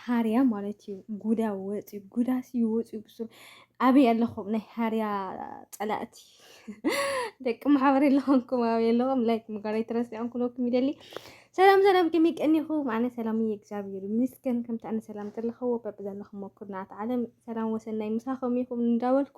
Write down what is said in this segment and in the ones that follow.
ሃርያ ማለት እዩ ጉዳ ወፅዩ ጉዳስ እዩ ወፅዩ ብሱር ኣበይ ኣለኹም ናይ ሃርያ ፀላእቲ ደቂ ማሕበር የለኹምኩም ኣብ የለኹም ላይክ ምግባር ኣይትረስዑን ክለኩም ይደሊ ሰላም ሰላም ከመይ ቀኒኹም ኣነ ሰላም እየ እግዚኣብሔር ይመስገን ከምቲ ኣነ ሰላም ዘለኸዎ በብዘለኹም ኩርናት ዓለም ሰላም ወሰናይ ምሳኹም ይኹም እንዳበልኩ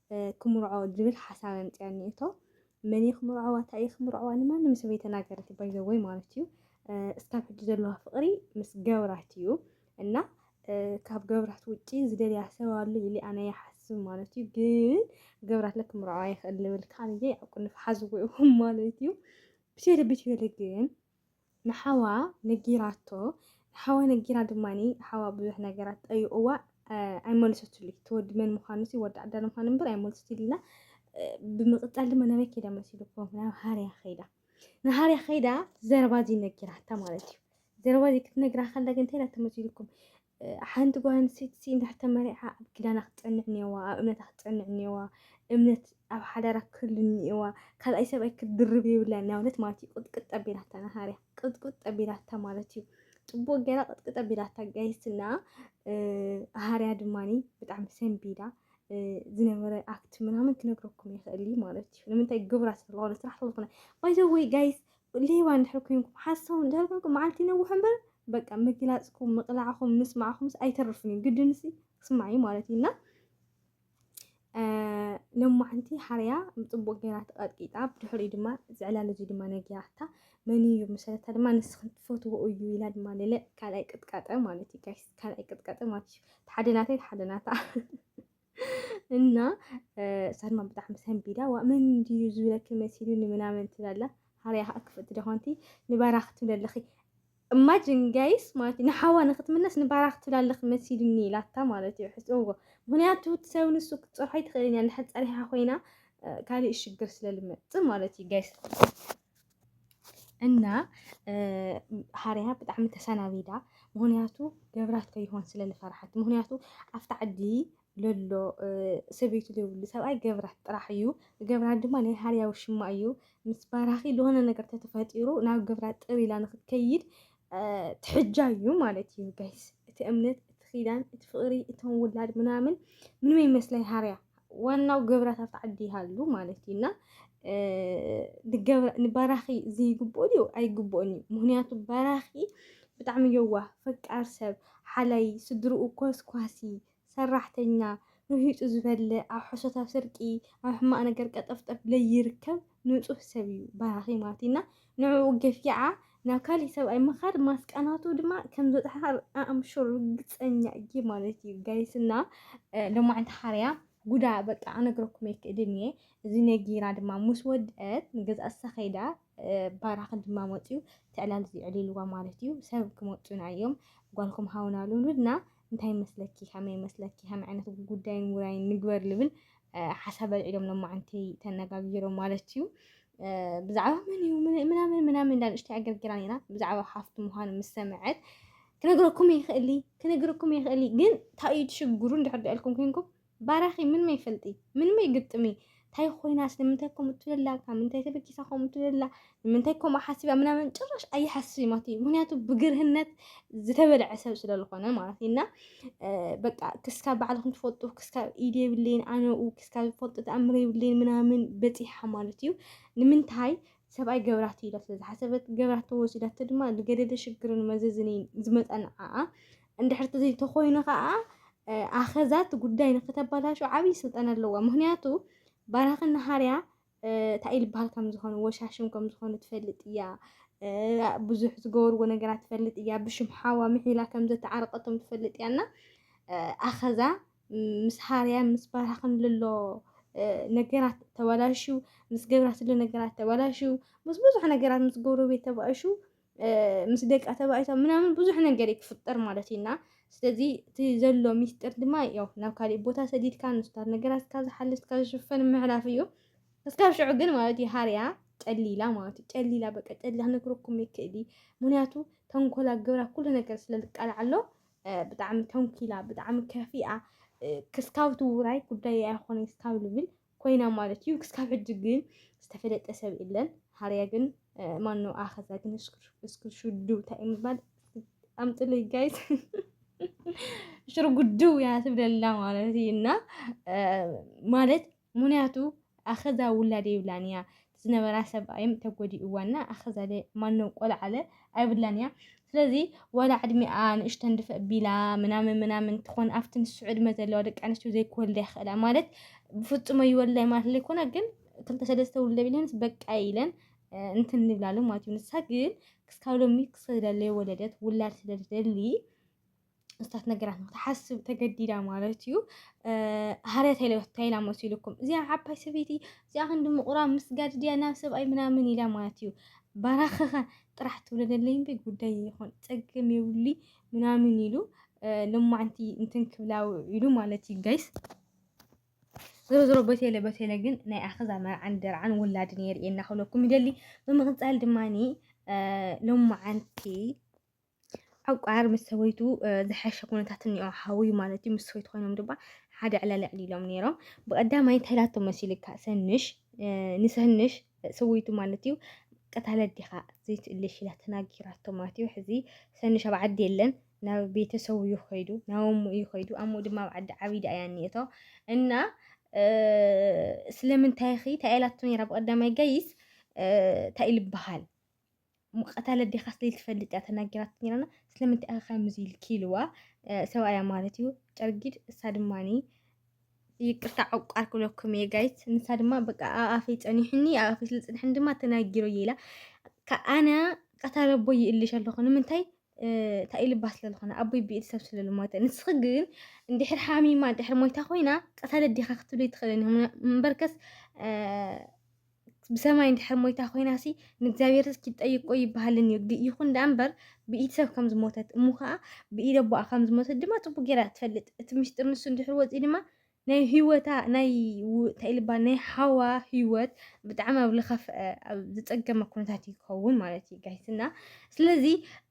ክምርዖ ዝብል ሓሳብ ኣምጺኣኒ እቶ መን እየ ክምርዖዋ እንታይ እየ ክምርዖዋ ንማንም ሰብ ኣይተናገረት ባይዘወይ ማለት እዩ እስካብ ሕጂ ዘለዋ ፍቅሪ ምስ ገብራት እዩ እና ካብ ገብራት ውጪ ዝደልያ ሰብ ኣሎ ኢለ ኣነ ይሓስብ ማለት እዩ። ግን ገብራት ለክ ምርዖ ኣይክእል ልብል ካን እየ ኣብ ቁንፍ ሓዝዎ ማለት እዩ። ብሸደ ብሸደ ግን ንሓዋ ነጊራቶ ንሓዋ ነጊራ ድማ ሓዋ ብዙሕ ነገራት ጠይቕዋ ኣይመለሰትሉይ እቲ ወዲ መን ምዃኑ ሲ ወዲ ዓዳል ምዃኑ እምበር ኣይመለሰትሉና ብምቕጻል ድማ ናበይ ከይዳ መሲልኩም ናብ ሃርያ ከይዳ ንሃርያ ከይዳ ዘረባ እዚ ነጊራታ ማለት እዩ ዘረባ እዚ ክትነግራ ከላ ግን እንታይ ኢላ ተመሲልኩም ሓንቲ ጓል ኣንስተይቲ እንድሕር ተመሪዓ ኣብ ኪዳና ክትጸንዕ እኒኦዋ፣ ኣብ እምነታ ክትጸንዕ እኒኦዋ፣ እምነት ኣብ ሓዳራ ክህሉ እኒኦዋ፣ ካልኣይ ሰብኣይ ክትድርብ የብላን ናብለት ማለት እዩ። ቅጥቅጥ ኣቢላታ ናሃርያ ቅጥቅጥ ኣቢላታ ማለት እዩ። ጽቡቅ ገይራ ቅጥቅጥ ኣቢላታ ጋይስና ሃርያ ድማኒ ብጣዕሚ ሰንቢዳ ዝነበረ ኣክት ምናምን ክነግረኩም ይኽእል ማለት እዩ። ንምንታይ ግብራ ስለዝኾነ ስራሕ ስለዝኾነ ባይዘወይ ጋይስ ሌባ እንድሕር ኮይንኩም ሓሳዊ እንድሕር ኮይንኩም መዓልቲ ይነውሕ እምበር በቃ ምግላፅኩም ምቕላዕኩም ምስማዕኩምስ ኣይተርፍን እዩ ግድንሲ ክስማዕ እዩ ማለት እዩ እና ሎማዕንቲ ሓርያ ፅቡቅ ገይራ ተቐጥቂጣ ብድሕሪ ድማ ዝዕላል እዚ ድማ ነጊራታ መን እዩ መሰለታ ድማ ንስኽን ትፈትዎ እዩ ኢላ ድማ ሌለ ካልኣይ ቅጥቃጠ ማለት እዩ ካልኣይ ቅጥቃጠ ማለት እዩ ተሓደናተይ ተሓደናታ እና ሳልማን ብጣዕሚ ሰንቢዳ ዋ መን እንድዩ ዝብለኪ መሲሉኒ ምናምን ትብላላ ሃርያ ከዓ ክፍእቲ ደኾንቲ ንባራኽ ትብል ኣለኺ እማጅን ጋይስ ማለት እዩ ንሓዋ ንክትምለስ ንባራኽ ትብል ኣለኺ መሲሉኒ ኢላታ ማለት እዩ ሕፅውዎ ምክንያቱ እቲ ሰብ ንሱ ክትፀርሖ ኣይትኽእልን እያ እንድሕር ፀሪሓ ኮይና ካልእ ሽግር ስለልመፅእ ማለት እዩ ጋይስ እና ሃርያ ብጣዕሚ ተሰናቢዳ ምክንያቱ ገብራት ከይሆን ስለ ዝፈርሓት ምክንያቱ ኣብቲ ዓዲ ለሎ ሰበይቱ ዘይብሉ ሰብኣይ ገብራት ጥራሕ እዩ ገብራት ድማ ናይ ሃርያ ውሽማ እዩ ምስ ባራኺ ዝኾነ ነገር ተተፈጢሩ ናብ ገብራት ጥር ኢላ ንክትከይድ ትሕጃ እዩ ማለት እዩ ጋይስ። እቲ እምነት፣ እቲ ኪዳን፣ እቲ ፍቅሪ፣ እቶም ውላድ ምናምን ምንም ይመስለኝ ሃርያ ዋናው ገብራት ኣብቲ ዓዲ ይሃሉ ማለት እዩ እና ንበራኺ ዝይግብኦ ድዩ ኣይግብኦን እዩ። ምክንያቱ በራኺ ብጣዕሚ የዋህ ፈቃር ሰብ ሓላይ ስድርኡ ኮስኳሲ ሰራሕተኛ፣ ርሂጹ ዝበልዕ፣ ኣብ ሕሶት ኣብ ስርቂ፣ ኣብ ሕማቕ ነገር ቀጠፍጠፍ ለይርከብ ንጹህ ሰብ እዩ በራኺ ማቲና ንዕኡ ገፊዓ ናብ ካሊእ ሰብኣይ ምኻድ ማስቃ ናቱ ድማ ከም ዝበጽሓ ኣም ሹር ርግጸኛ እየ ማለት እዩ ጋይስ እና ሎማዕንቲ ሓርያ ጉዳ በቃ ኣነግረኩም ኣይክእልን እየ እዚ ነጊራ ድማ ምስ ወድአት ንገዛ እሳ ከይዳ ባራኺ ድማ መጽዩ ትዕላል ዝዕሊልዋ ማለት እዩ ሰብ ክመጹና እዮም ጓልኩም ሃውና ልውሉድና እንታይ መስለኪ ከመይ መስለኪ ከመይ ዓይነት ጉዳይን ውራይን ንግበር ልብል ሓሳብ ኣልዒሎም ሎማዓንቲ ተነጋጊሮም ማለት እዩ ብዛዕባ መን እዩ ምናምን ምናምን እንዳ ንእሽተይ ኣገርጊራ ነይራ ብዛዕባ ሓፍቱ ምዃኑ ምስ ሰምዐት ክነግረኩም ይኽእሊ ክነግረኩም ይኽእሊ ግን እንታይ እዩ ትሽግሩ እንድሕር ኢልኩም ኮንኩም ባራኺ ምንመይ ፈልጢ ምንመይ ግጥሚ ታይ ኮይናስ ንምንታይ ከምኡ ትብላ ካብ ምንታይ ተበጊሳ ከምኡ ትብላ ንምንታይ ከምኡ ሓሲባ ምናምን ጭራሽ ኣይሓስብን ማለት እዩ ምክንያቱ ብግርህነት ዝተበልዐ ሰብ ስለ ዝኾነ ማለት እዩ እና በቃ ክስካ ባዕልኩም ትፈልጡ ክስካ ኢድ የብለይን ኣነኡ ክስካ ዝፈልጡ ተኣምር የብለይን ምናምን በፂሓ ማለት እዩ ንምንታይ ሰብኣይ ገብራት ኢላ ስለ ዝሓሰበት ገብራት ተወሲዳቶ ድማ ንገደደ ሽግርን መዘዝን ዝመፀ ንዓኣ እንድሕር ተዘይተኾይኑ ከዓ ኣኸዛት ጉዳይ ንክተባላሹ ዓብይ ስልጠና ኣለዋ ምክንያቱ ባራኺ ናሃርያ እንታይ ልበሃል ከም ዝኾኑ ወሻሽም ከም ዝኾኑ ትፈልጥ እያ ብዙሕ ዝገበርዎ ነገራት ትፈልጥ እያ ብሽም ሓዋ ምሒላ ከም ዘተዓረቀቶም ትፈልጥ እያ እና ኣኸዛ ምስ ሃርያ ምስ ባራኽን ልሎ ነገራት ተባላሹ ምስ ገብራ ስለ ነገራት ተባላሹ ምስ ብዙሕ ነገራት ምስ ጎረቤት ተባእሹ ምስ ደቃ ተባኢታ ምናምን ብዙሕ ነገር እዩ ክፍጠር ማለት እዩና ስለዚ እቲ ዘሎ ሚስጥር ድማ ያው ናብ ካሊእ ቦታ ሰዲድካ ንስታት ነገራትካ ዝሓልፍካ ዝሽፈን ምዕራፍ እዩ እስካብ ሽዑ ግን ማለት እዩ ሃርያ ጨሊላ ማለት እዩ ጨሊላ በቃ ጨሊላ ክነግረኩም ይክእል እዩ ምክንያቱ ተንኮላ ግብራ ኩሉ ነገር ስለዝቃላዕ ኣሎ ብጣዕሚ ተንኪላ ብጣዕሚ ከፊኣ ክስካብ ትውራይ ጉዳይ ኣይኮነ ክስካብ ልብል ኮይና ማለት እዩ ክስካብ ሕጂ ግን ዝተፈለጠ ሰብ የለን ሃርያ ግን ማኖ ኣኸዛ ግን እስክርሹዱ እንታይ ምባል ኣምጥለይ ጋይት ሽሮ ጉድው ያ ትብለላ ማለት እዩ እና ማለት ምክንያቱ ኣኸዛ ውላድ የብላን እያ ዝነበራ ሰብኣይም ተጎዲእዋ እና ኣኸዛለ ማነው ቆልዓለ ኣይብላን እያ ስለዚ ወላ ዕድሚኣ ንእሽተ እንድፈ ቢላ ምናምን ምናምን ትኾን ኣብቲ ንሱ ዕድመ ዘለዋ ደቂ ኣንስትዮ ዘይክወልዳ ይኽእላ ማለት ብፍጹም ኣይወልዳይ ማለት ዘይኮነ ግን ክልተ ሰለስተ ውልደ ቢለንስ በቃ ኢለን እንትን ንብላሉ ማለት እዩ ንሳ ግን ክስካብ ሎሚ ክስደለ ወለደት ውላድ ስለዝደሊ እታት ነገራት ንክትሓስብ ተገዲዳ ማለት እዩ ሃርያት ኢላ መሲሉኩም እዚኣ ዓባይ ሰበይቲ እዚኣ ክንዲ ምቑራ ምስጋድ ድያ ናብ ሰብኣይ ምናምን ኢላ ማለት እዩ ባራኸኸ ጥራሕ ትብለለይ እምበይ ጉዳይ ይኹን ፀገም የብሉይ ምናምን ኢሉ ልማዕንቲ እንትን ክብላ ውዒሉ ማለት እዩ ጋይስ ዞሮ ዞሮ በቴለ በቴለ ግን ናይ ኣኸዛ መርዓን ደርዓን ውላድን የርእየና ክብለኩም ይደሊ ብምቕፃል ድማ ሎማዓንቲ ዕቋር ምስ ሰበይቱ ዝሐሸ ኩነታት እኒኦ ሓውዩ ማለት እዩ ምስ ሰበይቱ ኮይኖም ድማ ሓደ ዕለልዕል ኢሎም ነይሮም ብቀዳማይ እንታይ ላቶ መሲልካ ሰንሽ ንሰንሽ ሰበይቱ ማለት እዩ ቀታለ ዲኻ ዘይትእልሽ ኢላ ተናጊራቶ ማለት እዩ ሕዚ ሰንሽ ኣብ ዓዲ የለን ናብ ቤተሰቡ እዩ ከይዱ ናብ እሙ እዩ ከይዱ ኣሙ ድማ ኣብ ዓዲ ዓቢዳ እያ እኒኦቶ እና ስለምንታይ ኺ እንታይ ኢላቶ ነይራ ብቀዳማይ ጋይስ እንታይ እዩ ዝበሃል ቀታለ ዲኻ ስለኢል ትፈልጥ እያ ተናጊራት ነይራና ስለምንታይ እያ ከምዚ ኢልኪ ኢልዋ ሰብኣያ ማለት እዩ ጨርጊድ እሳ ድማኒ ይቅርታ ዕቋር ክብለኩም እየ ጋይት ንሳ ድማ በቃ ኣብ ኣፈይ ፀኒሑኒ ኣብ ኣፈይ ስለ ፅንሐኒ ድማ ተናጊሮ እየ ኢላ ከ- ኣነ ቀታለ ኣቦይ ይእልሽ ኣለኹ ንምንታይ እንታይ ኢልባ ስለ ዝኾነ ኣቦይ ብኢድ ሰብ ስለ ዝሞተ ንስኺ ግን እንድሕር ሓሚማ እንድሕር ሞይታ ኮይና ቀታለት ዲኻ ክትብለይ ትኽእለኒ እምበርከስ ብሰማይ እንድሕር ሞይታ ኮይናሲ ንእግዚኣብሔር ኪጠይቆ ይበሃልን እዩ ይኹን ደኣ እምበር ብኢድ ሰብ ከም ዝሞተት እሞ ከዓ ብኢድ ኣቦኣ ከም ዝሞተት ድማ ፅቡቅ ጌራ ትፈልጥ እቲ ምስጢር ንሱ እንድሕር ወፂኡ ድማ ናይ ህይወታ ናይ እንታይ ልባል ናይ ሓዋ ህይወት ብጣዕሚ ኣብ ዝኸፍአ ኣብ ዝፀገመ ኩነታት እዩ ክኸውን ማለት እዩ ጋይስና ስለዚ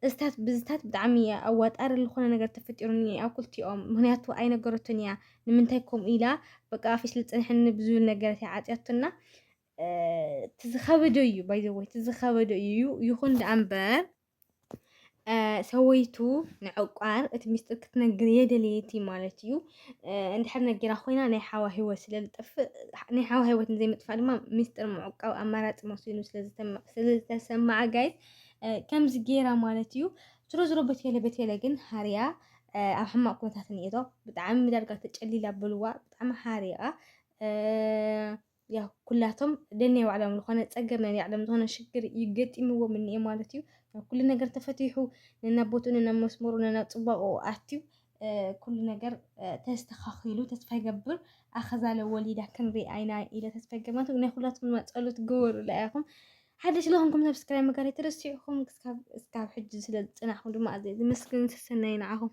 እዝታት ብዝታት ብጣዕሚ እያ ኣዋጣሪ ዝኾነ ነገር ተፈጢሩኒ ኣብ ክልቲኦም ምክንያቱ ኣይነገረቶን እያ ንምንታይ ከምኡ ኢላ በቃ ኣፍሽ ልፅንሕኒ ብዝብል ነገረት እያ ዓፅያቶና እቲ ዝኸበደ እዩ ባይዘወይ እቲ ዝኸበደ እዩ ይኹን ደኣ እምበር ሰወይቱ ንዕቋር እቲ ሚስጥር ክትነግር የደልየቲ ማለት እዩ እንድሕር ነጊራ ኮይና ናይ ሓዋ ሂወት ስለ ዝጠፍእ ናይ ሓዋ ሂወት ንዘይምጥፋእ ድማ ሚስጥር ምዕቋብ ኣማራፂ መሲሉ ስለዝተሰማዓ ጋይስ ከምዚ ጌራ ማለት እዩ ዝሮ ዝሮ በቴለ በቴለ ግን ሃርያ ኣብ ሕማቅ ኩነታት እኒኤቶ ብጣዕሚ ዳርጋ ተጨሊላ በልዋ ብጣዕሚ ሓሪቃ ያው ኩላቶም ደኔ ባዕሎም ዝኾነ ፀገም ናይ ባዕሎም ዝኾነ ሽግር ይገጢምዎም እኒኤ ማለት እዩ። ያው ኩሉ ነገር ተፈቲሑ ነናብ ቦትኡ ነናብ መስመሩ ነናብ ፅባቕኡ ኣትዩ ኩሉ ነገር ተስተኻኺሉ ተስፋ ይገብር ኣኸዛለ ወሊዳ ክንርኢ ኣይና ኢለ ተስፋ ይገብር ማለት ናይ ኩላትኩም ድማ ፀሎት ግበሩላ ኢኹም ሓደሽ ለኹንኩም ሰብስክራይብ ምግባር ኣይትረስዑ ኢኹም እስካብ ሕጂ ስለ ዝፅናሕኩም ድማ ኣዘ ዝምስግን ሰሰናይ ንዓኹም